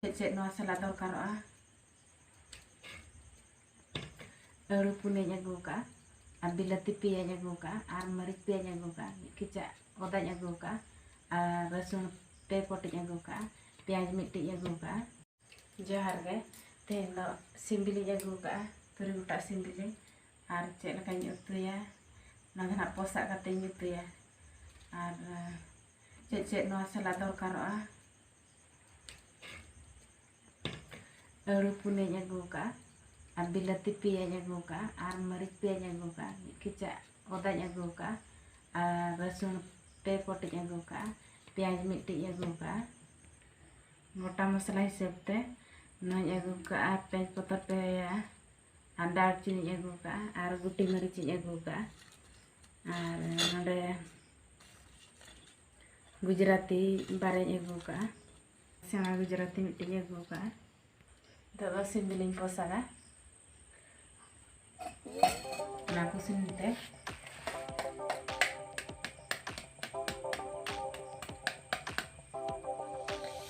ᱪᱮᱫ ᱪᱮᱫ ᱱᱚᱣᱟ ᱥᱟᱞᱟᱜ ᱫᱚᱨᱠᱟᱨᱚᱜᱼᱟ ᱟᱹᱲᱩ ᱯᱩᱱᱭᱟᱹᱧ ᱟᱹᱜᱩ ᱟᱠᱟᱫᱼᱟ ᱟᱨ ᱵᱤᱞᱟᱹᱛᱤ ᱯᱮᱭᱟᱧ ᱟᱹᱜᱩ ᱟᱠᱟᱫᱼᱟ ᱟᱨ ᱢᱟᱹᱨᱤᱪ ᱯᱮᱭᱟᱧ ᱟᱹᱜᱩ ᱟᱠᱟᱫᱼᱟ ᱢᱤᱫ ᱠᱮᱪᱟᱜ ᱚᱫᱟᱧ ᱟᱹᱜᱩ ᱟᱠᱟᱫᱼᱟ ᱟᱨ ᱨᱟᱹᱥᱩᱱ ᱯᱮ ᱯᱚᱴᱤᱧ ᱟᱹᱜᱩ ᱟᱠᱟᱫᱼᱟ ᱯᱮᱸᱭᱟᱡᱽ ᱢᱤᱫᱴᱤᱡ ᱟᱹᱜᱩ ᱟᱠᱟᱫᱼᱟ ᱡᱚᱦᱟᱨ ᱜᱮ ᱛᱮᱦᱮᱧ ᱫᱚ ᱥᱤᱢ ᱵᱤᱞᱤᱧ ᱟᱹᱜᱩ ᱟᱠᱟᱫᱼᱟ ᱛᱩᱨᱩᱭ ᱜᱚᱴᱟᱜ ᱥᱤᱢ ᱵᱤᱞᱤ ᱟᱨ ᱪᱮᱫ ᱞᱮᱠᱟᱧ ᱩᱛᱩᱭᱟ ᱚᱱᱟ ᱫᱚ ᱱᱟᱦᱟᱜ ᱯᱚᱥᱟᱜ ᱠᱟᱛᱮᱧ ᱩᱛᱩᱭᱟ ᱟᱨ ᱪᱮᱫ ᱪᱮᱫ ᱱᱚᱣᱟ ᱥᱟᱞᱟᱜ ᱫᱚᱨᱠᱟᱨᱚᱜᱼᱟ ᱟᱹᱲᱩ ᱯᱩᱱᱭᱟᱹᱧ ᱟᱹᱜᱩ ᱠᱟᱜᱼᱟ ᱟᱨ ᱵᱤᱞᱟᱹᱛᱤ ᱯᱮᱭᱟᱧ ᱟᱹᱜᱩ ᱠᱟᱜᱼᱟ ᱟᱨ ᱢᱟᱹᱨᱤᱪ ᱯᱮᱭᱟᱧ ᱟᱹᱜᱩ ᱠᱟᱜᱼᱟ ᱢᱤᱫ ᱠᱮᱪᱟᱜ ᱚᱫᱟᱧ ᱟᱹᱜᱩ ᱠᱟᱜᱼᱟ ᱟᱨ ᱨᱟᱹᱥᱩᱱ ᱯᱮ ᱯᱚᱴᱤᱧ ᱟᱹᱜᱩ ᱠᱟᱜᱼᱟ ᱯᱮᱸᱭᱟᱡᱽ ᱢᱤᱫᱴᱤᱡ ᱤᱧ ᱟᱹᱜᱩ ᱠᱟᱜᱼᱟ ᱜᱚᱴᱟ ᱢᱚᱥᱞᱟ ᱦᱤᱥᱟᱹᱵ ᱛᱮ ᱱᱚᱣᱟᱧ ᱟᱹᱜᱩ ᱠᱟᱜᱼᱟ ᱛᱮᱡᱽ ᱯᱚᱛᱚᱨ ᱯᱮᱭᱟ ᱟᱨ ᱫᱟᱨᱪᱤᱱᱤᱧ ᱟᱹᱜᱩ ᱠᱟᱜᱼᱟ ᱟᱨ ᱜᱩᱴᱤ ᱢᱟᱹᱨᱤᱪᱤᱧ ᱟᱹᱜᱩ ᱠᱟᱜᱼᱟ ᱟᱨ ᱱᱚᱰᱮ ᱜᱩᱡᱽᱨᱟᱛᱤ ᱵᱟᱨᱮᱧ ᱟᱹᱜᱩ ᱠᱟᱜᱼᱟ ᱥᱮᱬᱟ ᱜᱩᱡᱽᱨᱟᱛᱤ ᱢᱤᱫᱴᱮᱱ ᱤᱧ ᱟᱹᱜᱩ ᱠᱟᱜᱼᱟ ᱱᱤᱛᱚᱜ ᱫᱚ ᱥᱤᱢ ᱡᱤᱞᱤᱧ ᱯᱚᱥᱟᱜᱟ ᱚᱱᱟ ᱠᱚ ᱥᱤᱢ ᱛᱮ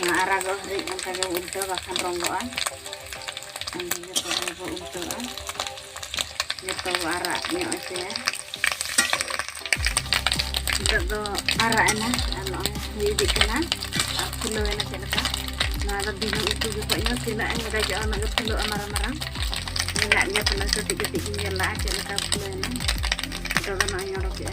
ᱚᱱᱟ ᱟᱨᱟᱜᱚᱜ ᱦᱟᱹᱨᱤᱡ ᱚᱱᱠᱟ ᱜᱮ ᱩᱞᱴᱟᱹᱣ ᱵᱟᱠᱷᱟᱱ ᱨᱚᱸᱜᱚᱜᱼᱟ ᱚᱱᱠᱟ ᱡᱚᱛᱚ ᱜᱮᱵᱚ ᱩᱞᱴᱟᱹᱣᱟ ᱡᱚᱛᱚ ᱵᱚ ᱟᱨᱟᱜ ᱧᱚᱜ ᱦᱚᱪᱚᱭᱟ ᱱᱤᱛᱚᱜ ᱫᱚ ᱟᱨᱟᱜ ᱮᱱᱟ ᱟᱨ ᱱᱚᱜᱼᱚᱭ ᱦᱩᱭ ᱤᱫᱤᱜ ᱠᱟᱱᱟ ᱟᱨ ᱯᱷᱩᱞᱟᱹᱣ ᱮᱱᱟ ᱪᱮᱫ ᱞᱮᱠᱟ ᱱᱚᱣᱟ ᱫᱚ ᱫᱤᱱᱟᱹ ᱩᱛᱩ ᱡᱚᱠᱷᱚᱡ ᱦᱚᱸ ᱛᱤᱱᱟᱹᱜ ᱮᱢ ᱜᱟᱡᱚᱜᱼᱟ ᱩᱱᱟᱹᱜ ᱜᱮ ᱯᱷᱩᱞᱟᱹᱜᱼᱟ ᱢᱟᱨᱟᱝ ᱢᱟᱨᱟᱝ ᱢᱮᱱᱟᱜ ᱜᱮᱭᱟ ᱯᱟᱞᱮ ᱠᱟᱹᱴᱤᱡ ᱠᱟᱹᱴᱤᱡ ᱜᱤᱧ ᱧᱮᱞ ᱞᱟᱜᱼᱟ ᱪᱮᱫ ᱞᱮᱠᱟ ᱯᱷᱩᱞᱟᱹᱣ ᱮᱱᱟ ᱱᱤᱛᱚᱜ ᱫᱚ ᱱᱚᱜᱼᱚᱭ ᱚᱰᱚᱠᱮᱜᱼᱟ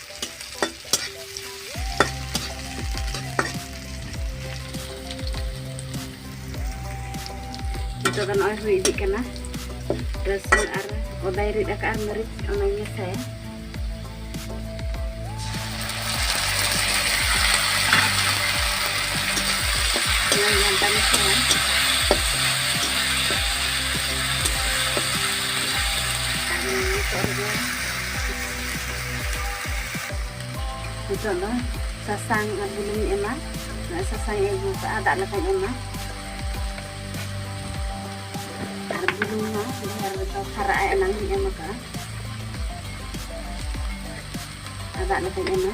ᱱᱤᱛᱚᱜ ᱫᱚ ᱱᱚᱜᱼᱚᱭ ᱦᱩᱭ ᱤᱫᱤᱜ ᱠᱟᱱᱟ ᱨᱟᱹᱥᱩᱱ ᱟᱨ ᱚᱫᱟᱭ ᱨᱤᱫ ᱟᱠᱟᱫ ᱢᱟᱹᱨᱤᱪ ᱚᱱᱟᱧ ᱢᱮᱥᱟᱭᱟ ᱚᱱᱟᱧ ᱜᱷᱟᱱᱴᱟ ᱢᱮᱥᱟᱭᱟ ᱟᱨ ᱱᱤᱛᱚᱜ ᱨᱮᱜᱮ ᱱᱤᱛᱚᱜ ᱫᱚ ᱥᱟᱥᱟᱝ ᱟᱨ ᱵᱩᱞᱩᱝᱤᱧ ᱮᱢᱟ ᱱᱚᱜᱼᱚᱭ ᱥᱟᱥᱟᱝ ᱤᱧ ᱟᱹᱜᱩ ᱠᱟᱜᱼᱟ ᱫᱟᱜ ᱞᱮᱠᱟᱧ ᱮᱢᱟ ᱟᱨ ᱵᱩᱞᱩᱝ ᱦᱚᱸ ᱰᱷᱮᱨ ᱨᱮᱫᱚ ᱠᱷᱟᱨᱟᱜᱼᱟ ᱮᱱᱟᱝ ᱤᱧ ᱮᱢ ᱠᱟᱜᱼᱟ ᱟᱨ ᱫᱟᱜ ᱞᱮᱠᱟᱧ ᱮᱢᱟ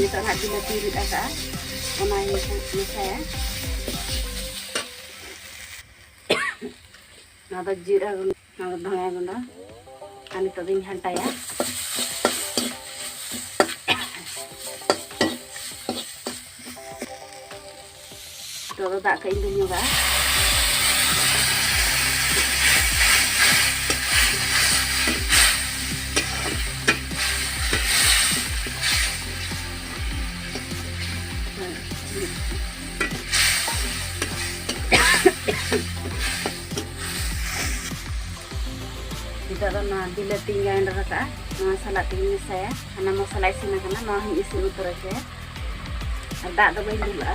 ᱱᱤᱛᱚᱜ ᱦᱟᱸᱜ ᱵᱤᱞᱟᱹᱛᱤ ᱨᱤᱫ ᱟᱠᱟᱜᱼᱟ ᱚᱱᱟ ᱢᱮᱥᱟᱭᱟ ᱱᱚᱣᱟ ᱫᱚ ᱡᱤᱨᱟᱹ ᱜᱩᱸᱰᱟᱹ ᱱᱚᱣᱟ ᱫᱚ ᱫᱷᱚᱱᱤᱭᱟ ᱜᱩᱸᱰᱟᱹ ᱟᱨ ᱱᱤᱛᱚᱜ ᱫᱚᱧ ᱜᱷᱟᱱᱴᱟᱭᱟ ᱱᱤᱛᱚᱜ ᱫᱚ ᱫᱟᱜ ᱠᱟᱜ ᱤᱧ ᱫᱩᱞ ᱧᱚᱜᱟᱜᱼᱟ ᱱᱤᱛᱚᱜ ᱫᱚ ᱱᱚᱣᱟ ᱵᱤᱞᱟᱹᱛᱤᱧ ᱜᱟᱭᱮᱱᱰᱟᱨ ᱟᱠᱟᱫᱼᱟ ᱱᱚᱣᱟ ᱥᱟᱞᱟᱜ ᱛᱮᱜᱮᱧ ᱢᱮᱥᱟᱭᱟ ᱦᱟᱱᱟ ᱢᱚᱥᱞᱟ ᱤᱥᱤᱱ ᱟᱠᱟᱱᱟ ᱱᱚᱣᱟ ᱦᱚᱧ ᱤᱥᱤᱱ ᱩᱛᱟᱹᱨ ᱦᱚᱪᱚᱭᱟ ᱟᱨ ᱫᱟᱜ ᱫᱚ ᱵᱟᱹᱧ ᱫᱩᱞᱟᱜᱼᱟ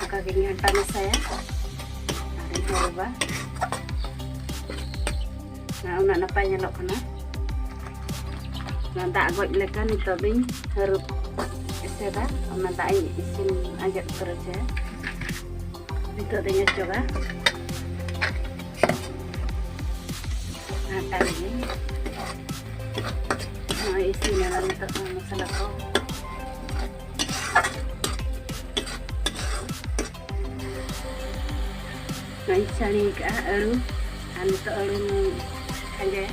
ᱚᱱᱠᱟ ᱜᱤᱧ ᱜᱷᱟᱱᱴᱟ ᱢᱮᱥᱟᱭᱟ ᱟᱨᱤᱧ ᱦᱚᱨᱚᱵᱟ ᱩᱱᱟᱹᱜ ᱱᱟᱯᱟᱭ ᱧᱮᱞᱚᱜ ᱠᱟᱱᱟ ᱚᱱᱟ ᱫᱟᱜ ᱜᱚᱡ ᱞᱮᱠᱟ ᱱᱤᱛᱚᱜ ᱫᱚᱧ ᱦᱟᱹᱨᱩᱵ ᱮᱥᱮᱫᱟ ᱚᱱᱟ ᱫᱟᱜ ᱤᱧ ᱤᱥᱤᱱ ᱟᱸᱡᱮᱫ ᱩᱛᱟᱹᱨ ᱦᱚᱪᱚᱭᱟ ᱱᱤᱛᱚᱜ ᱫᱚᱧ ᱚᱪᱚᱜᱟ ᱟᱴᱟ ᱨᱮᱜᱮ ᱱᱚᱜᱼᱚᱭ ᱤᱥᱤᱱ ᱮᱱᱟ ᱱᱤᱛᱚᱜ ᱫᱚ ᱢᱚᱥᱞᱟ ᱠᱚ ᱱᱚᱜᱼᱚᱭ ᱪᱷᱟᱹᱲᱤ ᱠᱟᱜᱼᱟ ᱟᱹᱲᱩ ᱟᱨ ᱱᱤᱛᱚᱜ ᱟᱹᱲᱩᱧ ᱠᱷᱟᱸᱡᱟᱭᱟ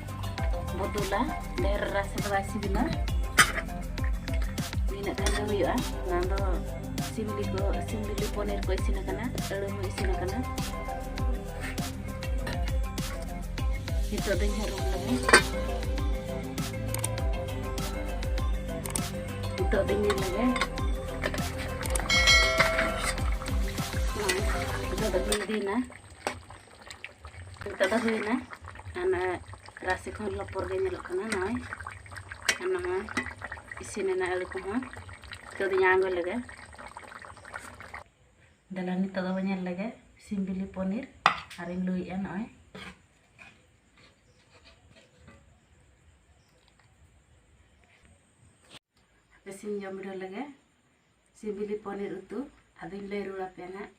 ᱵᱚᱫᱚᱞᱟ ᱰᱷᱮᱨ ᱨᱟᱥᱮ ᱫᱚ ᱵᱟᱭ ᱥᱤᱵᱤᱞᱟ ᱱᱤᱱᱟᱹᱜ ᱜᱟᱱ ᱜᱮ ᱦᱩᱭᱩᱜᱼᱟ ᱚᱱᱟ ᱫᱚ ᱥᱤᱢ ᱵᱤᱞᱤ ᱠᱚ ᱥᱤᱢ ᱵᱤᱞᱤ ᱯᱚᱱᱤᱨ ᱠᱚ ᱤᱥᱤᱱ ᱟᱠᱟᱱᱟ ᱟᱹᱲᱩ ᱦᱚᱸ ᱤᱥᱤᱱ ᱟᱠᱟᱱᱟ ᱱᱤᱛᱚᱜ ᱫᱚᱧ ᱦᱟᱹᱨᱩᱵ ᱞᱮᱜᱮ ᱱᱤᱛᱚᱜ ᱫᱚᱧ ᱧᱮᱞ ᱞᱮᱜᱮ ᱱᱤᱛᱚᱜ ᱫᱚ ᱵᱤᱞᱤᱭᱮᱱᱟ ᱱᱤᱛᱚᱜ ᱫᱚ ᱦᱩᱭᱱᱟ ᱟᱨ ᱱᱚᱜᱼᱚᱭ ᱨᱟᱥᱮ ᱠᱚᱦᱚᱸ ᱞᱚᱯᱚᱨ ᱜᱮ ᱧᱮᱞᱚᱜ ᱠᱟᱱᱟ ᱱᱚᱜᱼᱚᱭ ᱟᱨ ᱱᱚᱜᱼᱚᱭ ᱤᱥᱤᱱᱮᱱᱟ ᱟᱹᱞᱩ ᱠᱚᱦᱚᱸ ᱱᱤᱛᱚᱜ ᱫᱚᱧ ᱟᱬᱜᱚ ᱞᱮᱜᱮ ᱫᱮᱞᱟ ᱱᱤᱛᱚᱜ ᱫᱚ ᱧᱮᱞ ᱞᱮᱜᱮ ᱥᱤᱢ ᱵᱤᱞᱤ ᱯᱚᱱᱤᱨ ᱟᱨᱤᱧ ᱞᱩᱭᱮᱜᱼᱟ ᱱᱚᱜᱼᱚᱭ ᱤᱥᱤᱱ ᱡᱚᱢ ᱵᱤᱰᱟᱹᱣ ᱞᱮᱜᱮ ᱥᱤᱵᱤᱞᱤ ᱯᱚᱱᱤᱨ ᱩᱛᱩ ᱟᱫᱚᱧ ᱞᱟᱹᱭ ᱨᱩᱣᱟᱹᱲ ᱟᱯᱮᱭᱟ ᱱᱟᱜ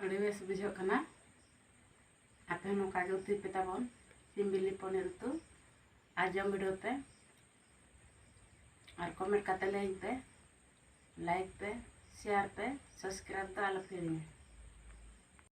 ᱟᱹᱰᱤ ᱵᱮᱥ ᱵᱩᱡᱷᱟᱹᱜ ᱠᱟᱱᱟ ᱟᱯᱮ ᱦᱚᱸ ᱱᱚᱝᱠᱟ ᱜᱮ ᱩᱛᱩᱭ ᱯᱮ ᱛᱟᱵᱚᱱ ᱥᱤᱢ ᱵᱤᱞᱤ ᱯᱚᱱᱤᱨ ᱩᱛᱩ ᱟᱨ ᱡᱚᱢ ᱵᱤᱰᱟᱹᱣ ᱯᱮ ᱟᱨ ᱠᱚᱢᱮᱱᱴ ᱠᱟᱛᱮ ᱞᱟᱹᱭᱟᱹᱧ ᱯᱮ ᱞᱟᱭᱤᱠ ᱯᱮ ᱥᱮᱭᱟᱨ ᱯᱮ ᱥᱟᱵᱥᱠᱨᱟᱭᱤᱵ ᱫᱚ ᱟᱞᱚ ᱯᱮ ᱦᱤᱲᱤᱧᱟ